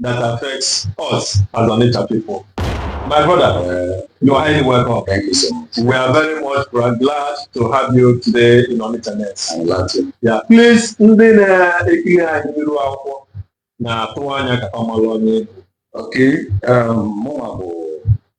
that affects us as Onitsha people. My brother, uh, you are highly welcome. Thank you so much. We are very much glad to have you today in Onitsha Nest. I'm glad too. Yeah. Please, ndị na-ekili anyị n'iru akwụkwọ na-atụ anya ka fa mala onye. Okay, um, mụnwa bụ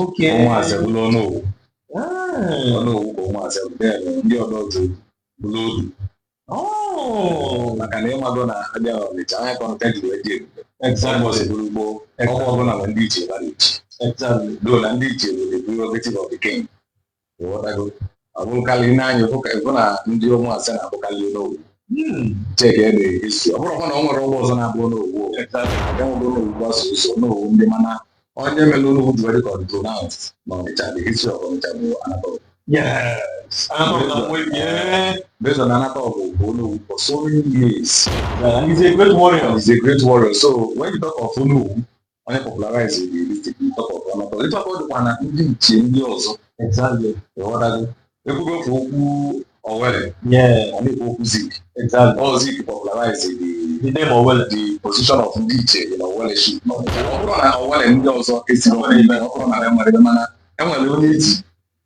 Okay. Ụmụase bụrụ Onowu Ah. Onowu ka Ụmụase bụ then ndị Odoje bụrụ Odu Oh. maka na ịmago na a bịa Ọnịcha ọ nya ka Ọnịcha ji wee dị ebube Exactly. ụbọsị bụrụ gboo ogbe ọbụna nwee ndị ichie fa na-echi Exactly. though na ndị ichie bụ the prerogative of the king ịghọtago ọ bụrụkarị ị nee anya ịfụ ka ịfụ na ndị Ụmụase na-abụkarị Onowu cheke ede esi ọ bụrọkwa na o nwerọ ogbe ọzọ na-abụ Onowu e nwego Onowu Gbasuzo Onowu ndị mana onye mere Onowu ji were kọntrol na n'Ọnịcha the history of Ọnịcha bụ Anatogu Yes. Anọ na mwe bie. based on Anatogu bụbu Onowu for so many years Yeah, he's a great warrior. He's a great warrior. So when you talk of Onowu, onye popularize it you talk of Anatogu ịtụ aka ọ dịkwa na ndị ichie ndị ọzọ exactly ịghọtago ekwugo ofu okwu Owelle yeah a na-ekwu okwu Zik exactly ọ Zik popularize the the name Owelle the position of ndị ichie dị na Owelleship ọ bụrọ na Owelle ndị ọzọ esiri ọbụla ime ọ bụrọ na enwerọ mana enwere onye e ji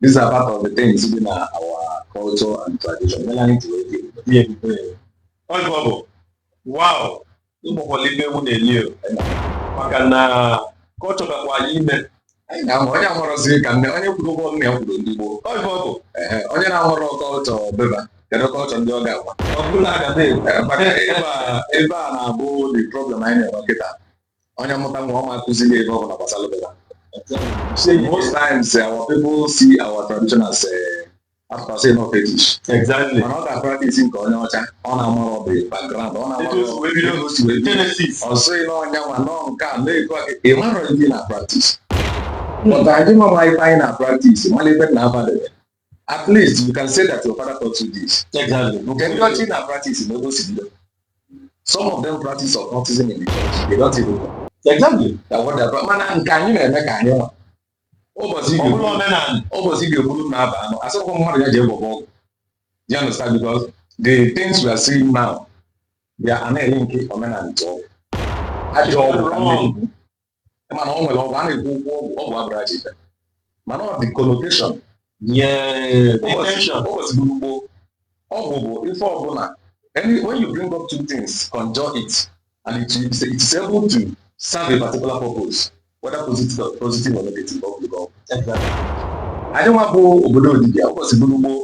these are part of the things dị na our culture and tradition mere anyị ji wee dị ihe ebube ọ bụ ọ bụ wow ịgbakwala ife ewu na-eli o. maka na kọlchọ gakwa anyị ime anyị na-amụ onye amụrọzi ka nne onye kwuru ụgwọ nne ya kwuru ndị gboo ọ bụ ọ bụ Ehe, onye na-amụrọ kọlchọ be fa kedu kọlchọ ndị ọ ga-agwa ọ bụla aga na-ekwu Ee, maka ife a- ife a na-abụ the problem anyị na-enwe kịta onye mụta nwa ọ ma akụziri ya ife ọbụna gbasara be fa say most times eh, our people see our tradition as a eh, fa sị na ọ fetish exactly mana ọ ga-a practice nke onye ọcha ọ na-amarọ the background ọ na-amarọ ebe o si wee bido ọ sịghị na ọnya nwa nọ nke a na-ekwu aka ị marọ ife ị na practice but anyị ma ma ife anyị na practice mala ife na abadebe at least you can say that your father taught you this. Exactly. Nke ndị ọcha na practice na ogosi ndị. Some of them practice occultism in the church. They don't even know. Exactly. That what they brought. Mana nke anyị na-eme ka anyị ma. Ụbọchị Ọ bụrụ omenala. ụbọchị ga-ekwuru na aba anọ. A sịkwa mmadụ ya ji egwọ ọgwụ. You understand because the things we are seeing now, they are na-elink omenala to ọgwụ. Ajọ ọgwụ ka ndị mana ọ nwere ọgwụ a na-ekwu okwu ọgwụ ọgwụ abụrọ ajọ ife mana ọ the connotation nye intention ụbọchị bụrụ gboo ọgwụ bụ ife ọbụla when you bring up two things conjure it and it is, it is able to serve a particular purpose whether positive or, positive or negative ọgwụ ọgwụ Ado nwa bụ obodo dibia ụbọchị bụrụ gboo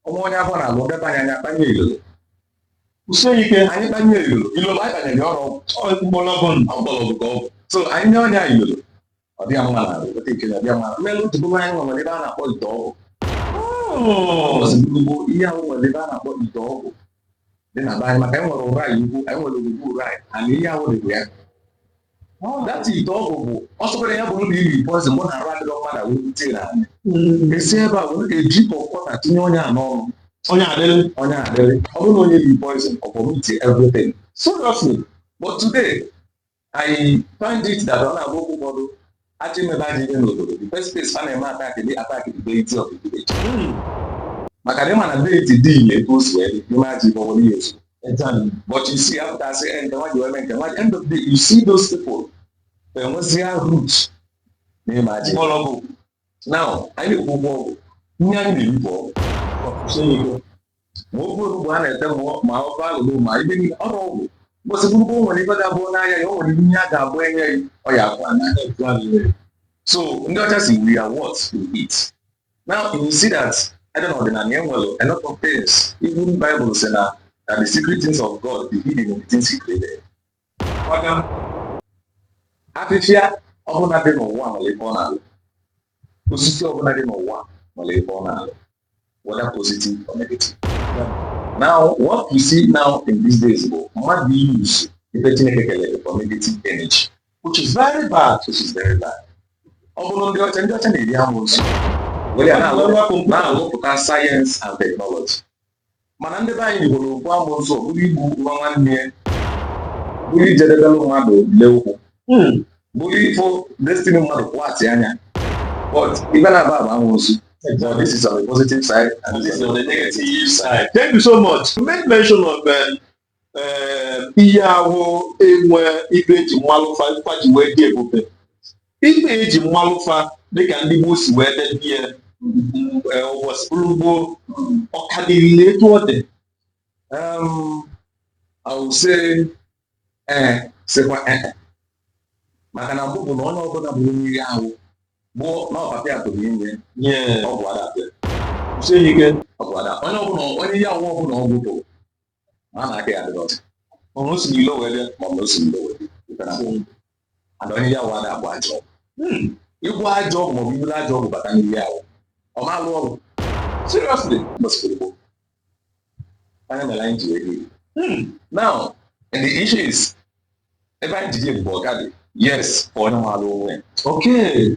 ọnwa onye afọ na-alụ ndị be anyị akpanye ilolo kwụsie ike anyị kpanye ilolo ilolo anyị kpanyere ya ọrụ mgbọrọgwụ mgbọrọgwụ ka ọgwụ so anyị nye onye anyị ilolo ọ dịghị mma na arụ ote ike na ọdịghị mma mmelụ tupu anyị nwere ebe a na-akpọ ite ọgwụ ozugbo ihe ahụ nwere ebe a na-akpọ ite ọgwụ dị na be anyị maka anyị nwere ụra anyị ugwu anyị nwere ugwu ụra anyị ana ihe ahụ dịbụ ya that ite ọgwụ bụ ọ sọkwara ya bụrụ na iri poizin mọbụ na arụ adịrọ mmadụ wee bute na anyị esi ebe a were eji kọkọta tinye onye a n'ọnụ onye adịrị onye adịrị ọ bụrụ na onye riri poizin ọ vomit everything seriously but today I find it that ọ na-abụkwa ụfọdụ achọ imebe ajọ ihe n'obodo the first place a na-eme attack they attack the deity of the village maka na ịma na deity dị ile etu o si wee dị ime ajọ ibe ọbụla ihe ozu Exactly. but you see after I say end nwa ji wee mee nke nwa end of the day you see those people enwezia root n'ime ajọ ibe. Ọlọgwụ. now anyị na-ekwu ịgwọ ọgwụ ihe anyị na-ekwu bụ ọgwụ Ọfụsịn ego. ma ofe olugbu a na-ete ma ofe alụlụ ma ibe niile ọrụ ọgwụ mgbọsị bụrụkwa o nwere ibe ga-abụ n'anya ya o nwere ihe a ga-abụ enye ya ọ ya akwa na so ndị ọcha sị we are what we eat now you see that ebe na ọdịnala e nwere a lot of things even Bible sị na that the secret things of God be hidden in the things he created afịfịa ọbụla dị n'ụwa nwere ebe ọ na-alụ osisi ọbụla dị n'ụwa nwere ebe ọ na-alụ whether positive or negative now what you see now in these days bụ mmadụ use ife chineke kelụ for negative energy which is very bad which is very bad ọ bụrụ ndị ọcha ndị ọcha na-eri amosu were ya na-alụpụta sayensị and teknọlọji mana ndị be anyị Igbo na-ekwu amosu ọ bụrụ igbu nwa nwanne ya bụrụ ijidebelụ mmadụ le ụkwụ hmm. bụrụ ifo destiny mmadụ kwụghachi anya but ibe na-aba bụ amosu Exactly. This is on the positive side and this is on the negative side. Thank you so much. You made mention of um, ihe ahụ e nwe ibe eji malụ fa fa ji wee dị ebube ibe eji malụ fa dịka ndị gboo si wee debe ya ụbọchị bụrụ gboo ọ ka dịrị na etu ọ dị I will say ee sịkwa ee maka na mbụ bụ na onye ọbụla bụ onye ihe ahụ bụ na ọbata ya pụrụ inye nye ọgwụ ada atụ ya onye ọbụla onye ihe ahụ ọbụla ọgwụ gbu maa na aka ya adịrọ ọcha ọnụ o si n'ilo wee bịa ma ọ bụ na o si n'ilo wee bịa pụtara bụ ndụ and onye ihe ahụ ada agwọ ajọ ọgwụ Hmm, ịgwọ ajọ ọgwụ maọbụ iburu ajọ ọgwụ bata n'ime ahụ ọ ma alụ ọlụ seriously mbọsị gboo ọ ya mere anyị ji wee dị Hmm, now and the issue is ibe anyị ji dị ebube ọ ka dị yes for onye maalụ onwe ya okay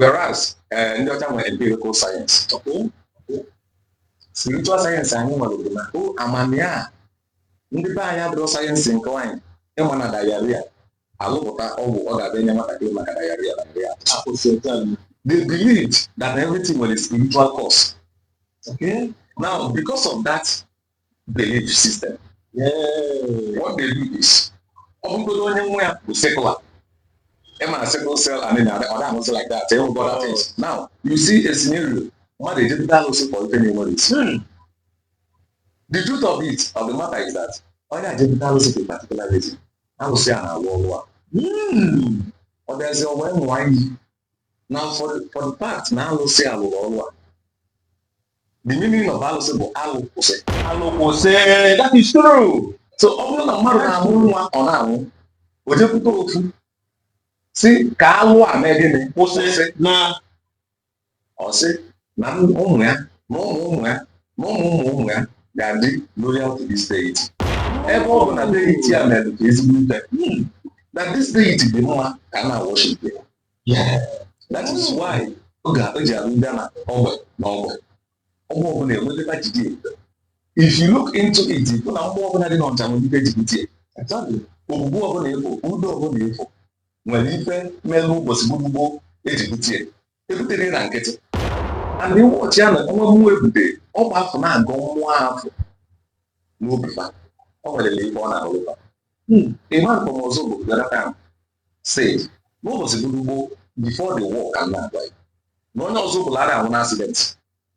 whereas eh, ndị ọcha nwere empirical science spiritual science anyị nwere bụ na o amamihe a ndị be anyị adịrọ science inclined ịma na diarrhea a lụpụta ọgwụ ọ ga-abịa enye nwatakịrị maka diarrhea diarrhea akwụsị otu a they believed that everything was a spiritual cause. Okay? Now, because of that belief system what they do is ọ bụgodo onye nwa ya bụ sickler ịma na sickle cell and others like that other things now you see a scenario mmadụ ejepụta alụsị for ife na-enwerọ isi hmm. the truth of it of the matter is that onye a jepụta alụsị for a particular reason alụsị a na-alụ ọlụ a hmm. ọ bịazi wee ṅụa iyi na for the fact na alụsị a lụrụ ọrụ a the meaning of alụsị bụ alụ kwụsị alụ kwụsị that is true so ọ bụrụ na mmadụ na-amụ nwa ọ na-anwụ o jepụta ofu sị ka alụ a mee gịnị kwụsị na ọ sị na ụmụ ya na ụmụ ụmụ ya na ụmụ ụmụ ụmụ ya ga-adị loyal to this deity ebe ọ bụ na deity a mere ka ezigbo ife hmm. na this deity dị mma ka a na-worship ya that is why o ji abụ ị bịa na ogbe na ogbe ọgbọ ọbụla enweteta jide if you look into it ịfụ na mmụọ ọbụla dị n'Ọnịcha nwere ife eji bute Ogwugwu ọbụla ịfụ Udo ọbụla ịfụ nwere ife melu ụbọchị gboo gboo eji butie ebuterọ na nkịtị and ụbọchị a na nwa mmụọ ebute ogbe afụ na-agọ mmụọ afụ n'obi fa o nwere ife ọ na-alụ fa hmm, ịma nke ọzọ bụ gwara m sị n'ụbọchị gboo gboo before the war ka na-agwa ya na onye ọzọ ọbụla ara anwụ na accident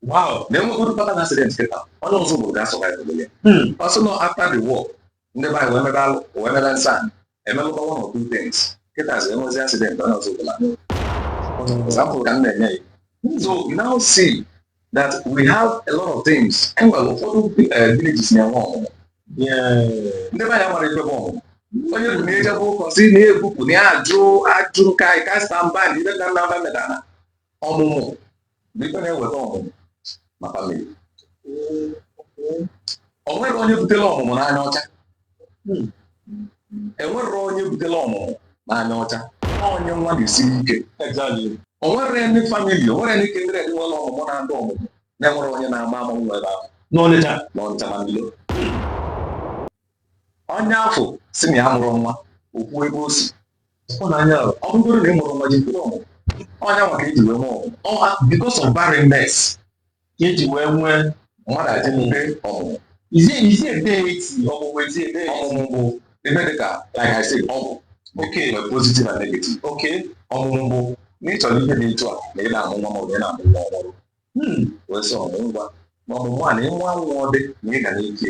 wow na enwegodu fatal accident kịta onye ọzọ bụrụ ga-survive ya ọ sị na after the war ndị be anyị wee mebe alụ wee mebe nsọ anyị emelụkwa one or two things kịtazi enwezi accident onye ọzọ bụla example ka m na-enye gị so you now see that we have a lot of things enwere ụfọdụ eh, villages na-enwe ọmụmụ ndị be anyị amara ife bụ ọmụmụ onye ọbụna ejebe ụka sị na ebupụ na ya ajụ ajụ nka anyị ka stamban ibe ka nna mba medana ọmụmụ Bụ ife na-eweta ọmụmụ na family. O nwerọ onye butela ọmụmụ n'anya ọcha. Hmm. Enwerọ onye butela ọmụmụ n'anya ọcha. Onye nwa na-esiri ike. O nwere ndị family, o nwere ndị kindred nwere ọmụmụ na-adụ ọmụmụ na-enwerọ onye na-ama amụ nwa ebe afụ. N'Ọnịcha. N'Ọnịcha na Mbilo. Onye afụ sị na ya amụrọ nwa, o kwuo ebe o si. ịhụnanya ọ bụgoro na ị mụrụ nwa jikwa ọmụmụ ọ nya nwa ka eji wee nwee ọmụmụ because of barrenness ka eji wee nwee mmadụ adị mgbe ọmụmụ izi izi ebe eti ọmụmụ ezi ebe ọmụmụ bụ ebe dị ka like I said ọgwụ okay nwere positive and negative okay ọmụmụ bụ na ị chọrọ ihe dị etu a na ị na-amụ nwa maọbụ ị na-amụ nwa ọhụrụ hmm, wee sị ọmụmụ ngwa ma ọmụmụ a na ịmụ nwa ọ dị na ị ga n'ike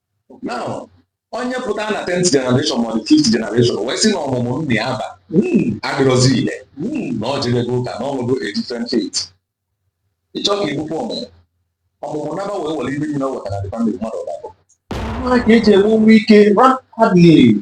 now onye pụta na 10th generation ma ọ dị 5th generation wee sị na ọmụmụ nna ya ba adịrọzi ile na ọ jebego ụka na o nwego a different faith ị chọ ka i bupụ ọmụmụ ọmụmụ naba wee were ife niile o wetara the family mmadụ ọbara nwa ka eji enwe nwa ike rapidly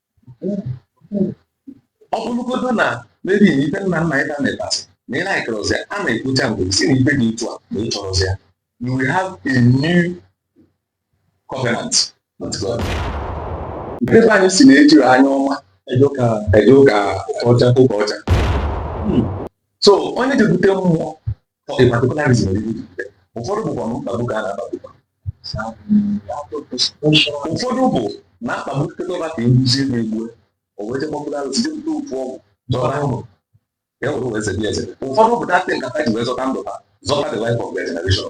ọ bụrụgodo na maybe na ife nna nna ịta metasị na ị na-ekerọzi a na-ekwucha mgbe ị sị na ife dị otu a na ị chọrọzi ya you will have a new covenant with God. Ndị be anyị sị na ejirọ anya ọma eje ụka ọcha ụka ọcha hmm. so onye jebute mmụọ for a particular reason dị iche ụfọdụ bụkwa na mkpagbu ka a na-akpagbu ụfọdụ bụ na akpagbu tekọba ka egbuzie na-egbu o wee jekpọpụta arụsị jepụta ofu ọgwụ zọta ahụ ya were wee zebe eze ụfọdụ bụ deity ka ha ji wee zọta ndụ ha zọta the life of their generation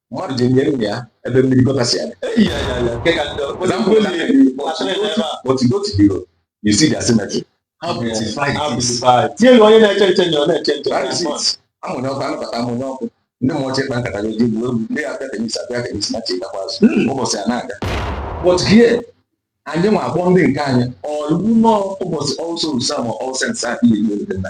mmadụ ji nye nna ya ebe mmiri gota si abịa you see their cemetery how beautified it is tinyere onye na-eche nche nye ọ na-eche nche that is it amụnye ọkụ anabata amụnye ọkụ ndị mmụọ chekpa nkata ga eji egwu ndị ya abịa tenis abịa tenis na chi gakwa azụ hmm. ụbọchị a na-aga but here anyị nwa akpọ ndị nke anyị ọlụ nọ ụbọchị All Souls ma All Saints ihe ihe ndị nna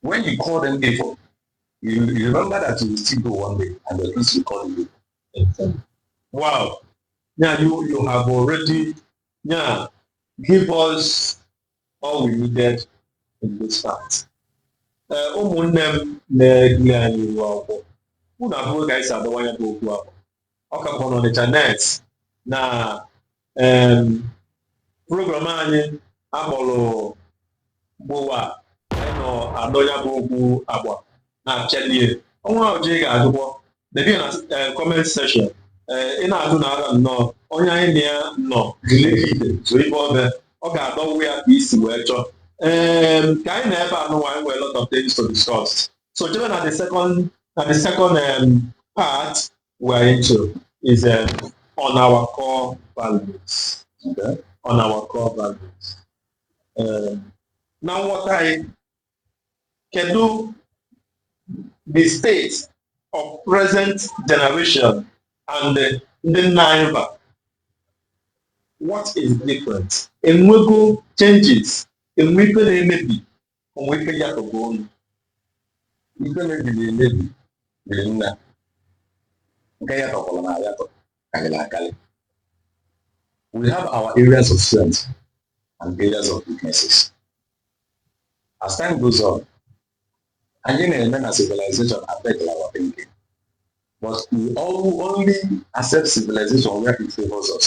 When you call them evil, you, you remember that you will still go one day and the priest will call you. Wow. Yeah, you, you have already yeah, give us all we needed in this part. Eh, ụmụnne m na-ekiri anyị ihu akwụkwọ unu afụgo ka anyị si adọwa ya bụ okwu ahụ ọ ka bụ n'Ọnịcha net na program anyị akpọrọ gbowa anyị nọ adọ ya bụ okwu agba na-achalie o nwee ajụjụ ị ga-ajụkwọ debe na comment section ị na-ajụ na ara nnọọ onye anyị na ya nọ glegide zo ibe ọbe ọ ga-adọwa ya ka ị si wee chọọ ee ka anyị na ebe anụnwa anyị nwere lot of things to discuss so jebe na the second na the second um, part we are into is um, on our core values. Okay. On our core values. Um, na nghọta gị, kedu the state of present generation and the ndị gboo? What is different? E nwego changes, e nwee ife na-emebi ụmụ ike ya tọgbu ọnụ ife mebiri emebi dị nna nke ya tọkwara na ya karịrị akarị we have our areas of strength and areas of weaknesses as time goes on anyị na-eme na civilization affect our thinking but we only accept civilization where it favors us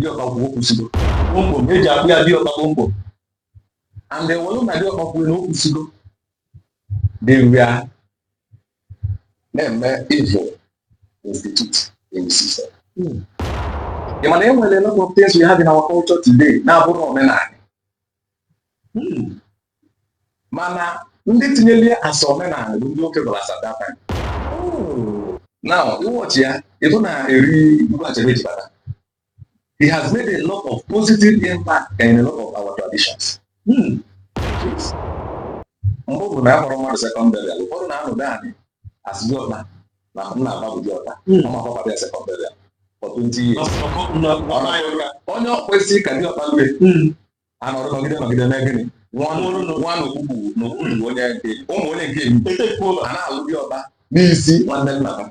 diọkpa kwuo o kwusigo kpomkpom eji akpọ ya diọkpa kpomkpom and e welu na diọkpa kwuru na o kwusigo they were na-eme evil institute in system hmm. ị ma na e nwere a lot of things we have in our culture today na-abụrụ omenala Hmm. mana ndị tinyere asọ omenala bụ ndị oke gwara as at that time oh. na ị watch ya ị fụ na eri Igwe Achebe ji bata he has made a lot of positive impact in a lot of our traditions hmm. mgbe ọ bụ na akwarọ mmadụ second burial ụfọdụ na-anọdụ anyị asị diọkpa na nna aba bụ diọkpa hmm. ọ ma gbabara ya second burial for 20 years onye o kwesịrị ka diọkpa lue anọrọ nọgide nọgide na gịnị nwa n'okpukpu n'okpukpu onye nke ụmụ onye nke etekwuo a na-alụ diọkpa n'isi nwanne nna ha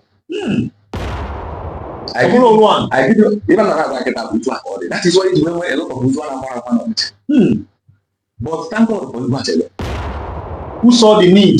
even na agwa kịta bụ otu a ka ọ dị that is why i ji wee nwee a lot of ozu a na-akwarọ akwa n'ọnịcha but thank God for Igwe Achebe who saw the need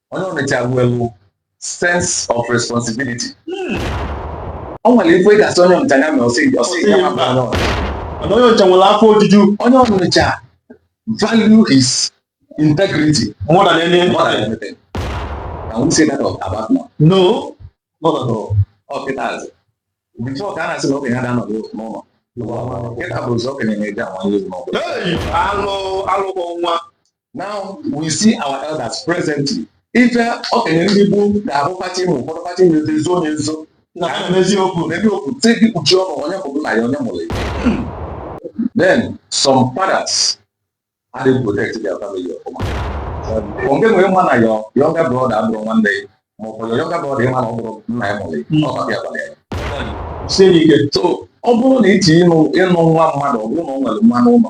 onye ọnịcha nwere sense of responsibility hmm. o nwere ife ị ga-asị onye ọnịcha ya mere ọ sị ọ sị ya ma baa n'ọrụ mana onye ọnịcha nwere afọ ojuju onye ọnịcha value his integrity more than any more than anything can we say that about now no not at all ọ kịta azụ before ka a na-asị na okenye ha na-anọdụ n'ụlọ kịta bụ ụzọ okenye na-eji anwa nlezi n'ọbụla alụ alụkwọ nwa Now we see our elders presently. Ife okenye ndị gboo ga-abụ pati ma ụfọdụ pati nweta ezo onye nzo na ha na eziokwu na ebe okwu te gị kpuchie ọnụ onye bụ na ya onye mụrụ ya. Then some fathers adịghị protect their family ọfụma. Onge nwere mma na your younger brother abụrọ nwanne ya ma ọ bụ your younger brother ma na ọ bụrọ nna ya mụrụ ya ọ bịa gwara ya. Sie ike so ọ bụrụ na itinye ịnụ nwa mmadụ ọ bụrụ na ọ nwere mmanụ ụlọ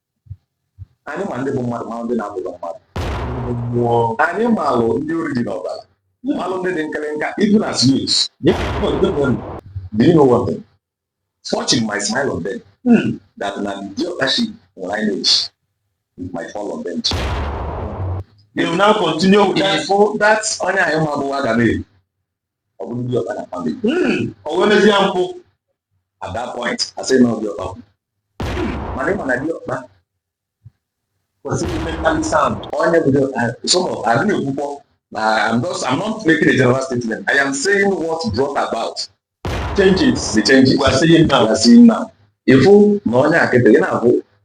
anyị ma ndị bụ mmadụ ma ndị na-abụghị mmadụ anyị maalụ ndị ori dị n'ọbara maalụ ndị dị nkelenka even as youths do you know one thing fortune might smile on them hmm. that na the ọkashi nwere lineage might fall on them too. they will now continue with that, that onye anyị ma bụ aga m ọ bụrụ diọkpa na family hmm, o wee mezie mpụ at that point a sị na ọ diọkpa mana ị ma na diọkpa kwesịrị mentally sound onye bụ some of adị na-ekwukwọ na I'm just I'm not making a general statement I am saying what brought about changes the changes we are seeing now we are seeing now ị fụ na onye akịtị gị na-abụ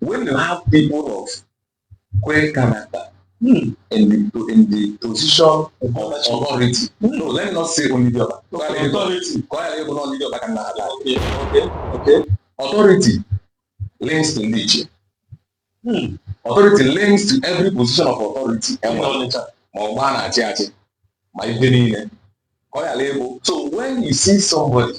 When you have people of great character hmm. in, the, in the position of authority, hmm. no, let me not say only the authority. Authority. Okay, okay, okay. Authority links to nature. Hmm. Authority links to every position of authority. Hmm. Ma ọ gbaa na-achị achị ma ife niile. Ọ ya so when you see somebody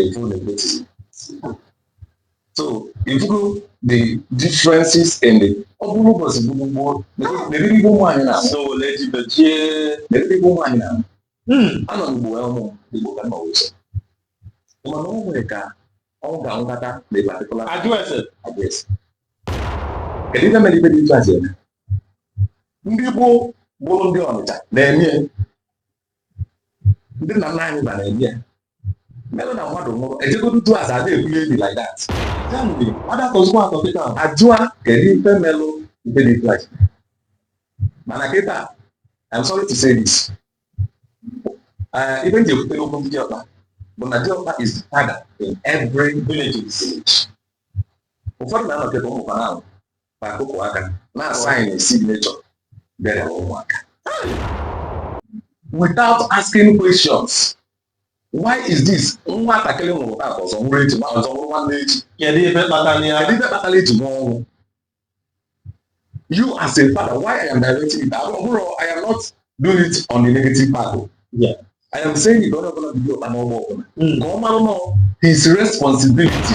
etu ọ na-eme so ị fụgo the differences in the ọ bụrụ ụbọchị gburu gboo meriri igbo nwaanyị na so ole ji bechie meriri igbo nwaanyị na anọ n'ugbo ya ụmụ igbo ka nọ ụzọ mana o nwere ka ọ ga-anwụkata na a particular ajụ ese ajụ ese kedu ife mere ife dị ife a ji eme ndị gboo bụrụ ndị ọnịcha na-eme ndị nna nna anyị fa na-eme ya melụ na mmadụ nwụrụ e jegodu jụọ ase ada ebuli eni like that ya mgbe mmadụ atọzikwa atọ kịta ahụ ajụa kedu ife melụ ife dị etu a ji mana kịta I'm sorry to say this uh, ife m ji ekwutere okwu ndị diọkpa bụ na diọkpa is the father in every village in the village ụfọdụ na-anọ kịta ụmụaka na-anwụ na akụkụ aka na-asign signature burial ụmụaka without asking questions why is this nwatakịrị nwụrụ taa ọzọ nwụrụ echi ma ọzọ nwụrụ nwanne echi kedu ife kpatara ya kedu ife kpatara e ji nwụọ ọnwụ you as a father why i am directing it abụrọ ọ bụrọ i am not doing it on the negative part o yeah. i am saying it onye ọbụla bụ diọkpa n'ogbe ọbụla ka ọ mara na ọ his responsibility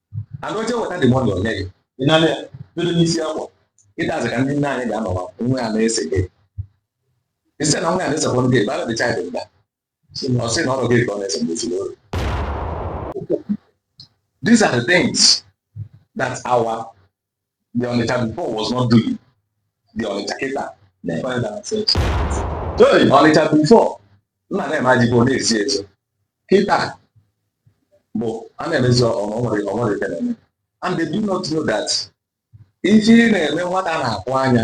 and o je weta the money o nye gị ị nara dobe n'isi akwa ị dịzi ka ndị nne anyị ga-anọwa nwa ya na-ese gị isi na nwa ya na-esekwa gị bad child mba ọ sị na ọrụ gị ka ọ na-ese mgbe ozugbo these are the things that our the Onitsha before was not doing the Onitsha kịta na-ekwe na Onitsha before nna na-eme ajikwa ọ na-esi ezo kịta bụ a na-emezi o nwerọ o nwerọ ife na-eme and they do not know that ife ị na-eme nwata na-akwụ anya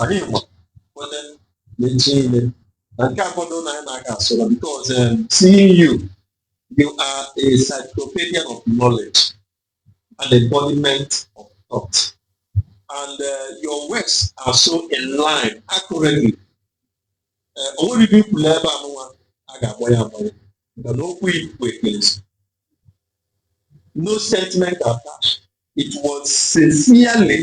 anyị ma kwete na echi niile na nke akọdo na anyị na-aga asọrọ because um, seeing you you are a cyclopedia of knowledge an embodiment of thought and uh, your words are so in line accurately uh, o nwerọ ibe i kwulu ebe anụnwa a ga-agbagha agbagha maka na okwu i kwu ekpezi no sentiment attached it was sincerely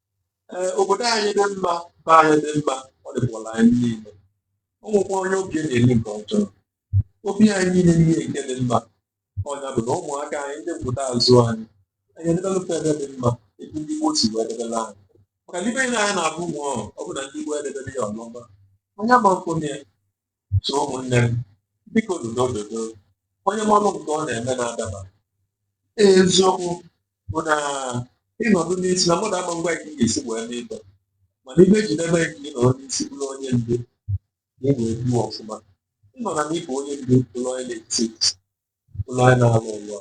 ee obodo anyị dị mma be anyị dị mma ọ dịkwala anyị niile ọ nwekwa onye obi na-eme nke ọjọọ obi anyị niile niile nke dị mma ọ nya bụ na ụmụaka anyị ndị mpụta azụ anyị anyị edebelụ fa ibe dị mma etu ndị gboo si wee debelụ anyị maka na ibe anyị na-abụ nwa ọ bụ na ndị gboo edeberọ ya ọfụma onye ma mkpụrụ ya So ụmụnne m, biko dodo dodo, onye manụ nke ọ na-eme na-adaba. Eziokwu bụ na ịnọdụ n'isi na mmadụ ama ngwa nke ga-esi wee mee ibe mana ibe ji n'ebe nke ị nọrọ n'isi bụrụ onye ndu na ị wee duo ọfụma ịnọ na n'ịbụ onye ndu bụrụ onye na-etisi ụlọ anyị na-alụ alụ.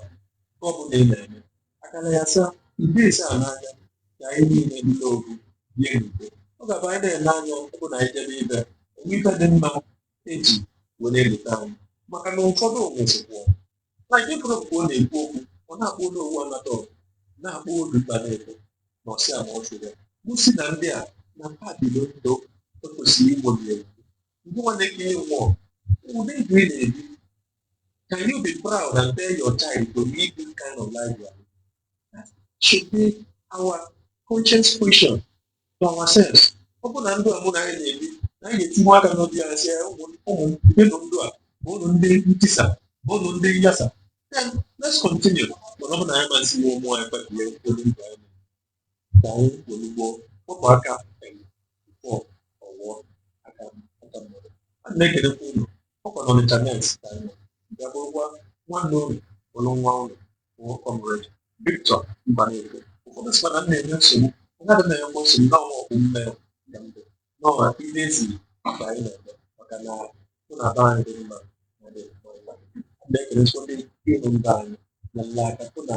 Nke ọ bụla ị na-eme, akara ya saa, ide ise a n'anya ka anyị niile dị n'ofu bie n'udo. Ọ ga-abụ anyị na-ele anya ọ bụ na anyị jebe ibe enwe ife dị mma eji were elota anyị maka na ụfọdụ nwụsịkwuo na nke pụrụ mgbe ọ na-ekwu okwu ọ na-akpọ olu owu anata ọgụ na-akpọ olu mba na-ekwu na ọsị a ma ọ chụrụ gosi na ndị a na fa bilu ndụ ekwesịrị igbo na egwu nwa nke gị nwụọ ụdị ndụ ị na-ebi can you be proud and tell your child to live this kind of life you are living that should be our conscience question to ourselves ọ bụ na ndụ a mụ na gị na-ebi na anyị ga-etinye aka n'obi anyị sị ụmụ ụmụ ndụ a abụrọ ndụ ntisa abụrọ ndụ nyasa then let's continue mana ọ bụ na anyị ama asị nwe ụmụ anyị kpebie ụdị ndụ anyị Ka anyị ozugbo kpọpụ aka enwe bifọ ọ ghọọ aka aka mmadụ. A na-ekelekwa unu ọ kwa na internet ka anyị nọ bịa bụrụkwa nwanne unu bụrụ nwa unu bụ Comrade Victor Mbanefo. Ụfọdụ sịkwa na m na-enye nsogbu onye adị na-enye nwa nsogbu na-anwa oko m ka m fụ n'ọha ihe ezi mgbe anyị na-eme maka ịfụ na be anyị dị mma na dị mma mma. A na-ekelekwa ndị ihu mba anyị na nla aka hụ na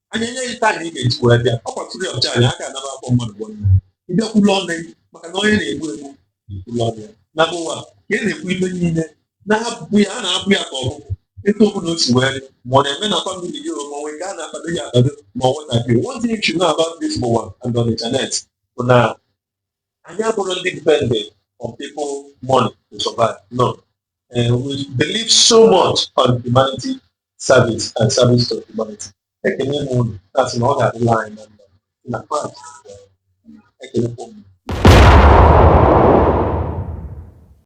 anyị enye gị time ị ga-eji wee bịa ọ kwatụrụ ya ọcha anyị aka anaba akpọ mmadụ bụ nna ị bịa kwulu ọnụ gị maka na onye na-ekwu ekwu na-ekwulu ọnụ ya na ụwa ka ị na-ekwu ibe niile na-abụ ya a na-abụ ya ka ọ bụrụ etu ọbụla o si wee dị ma ọ na-eme na famili gị ma o nwee nke a na-akwado ya akwado ma ọ nwatakịrị one thing you should know about this ụwa and on internet bụ na anyị abụrọ ndị dependent on people money to survive no uh, we believe so much on humanity service and service to humanity ekele m unu asị na ọ ga-adịla anyị na mma na Kraịst ekele m unu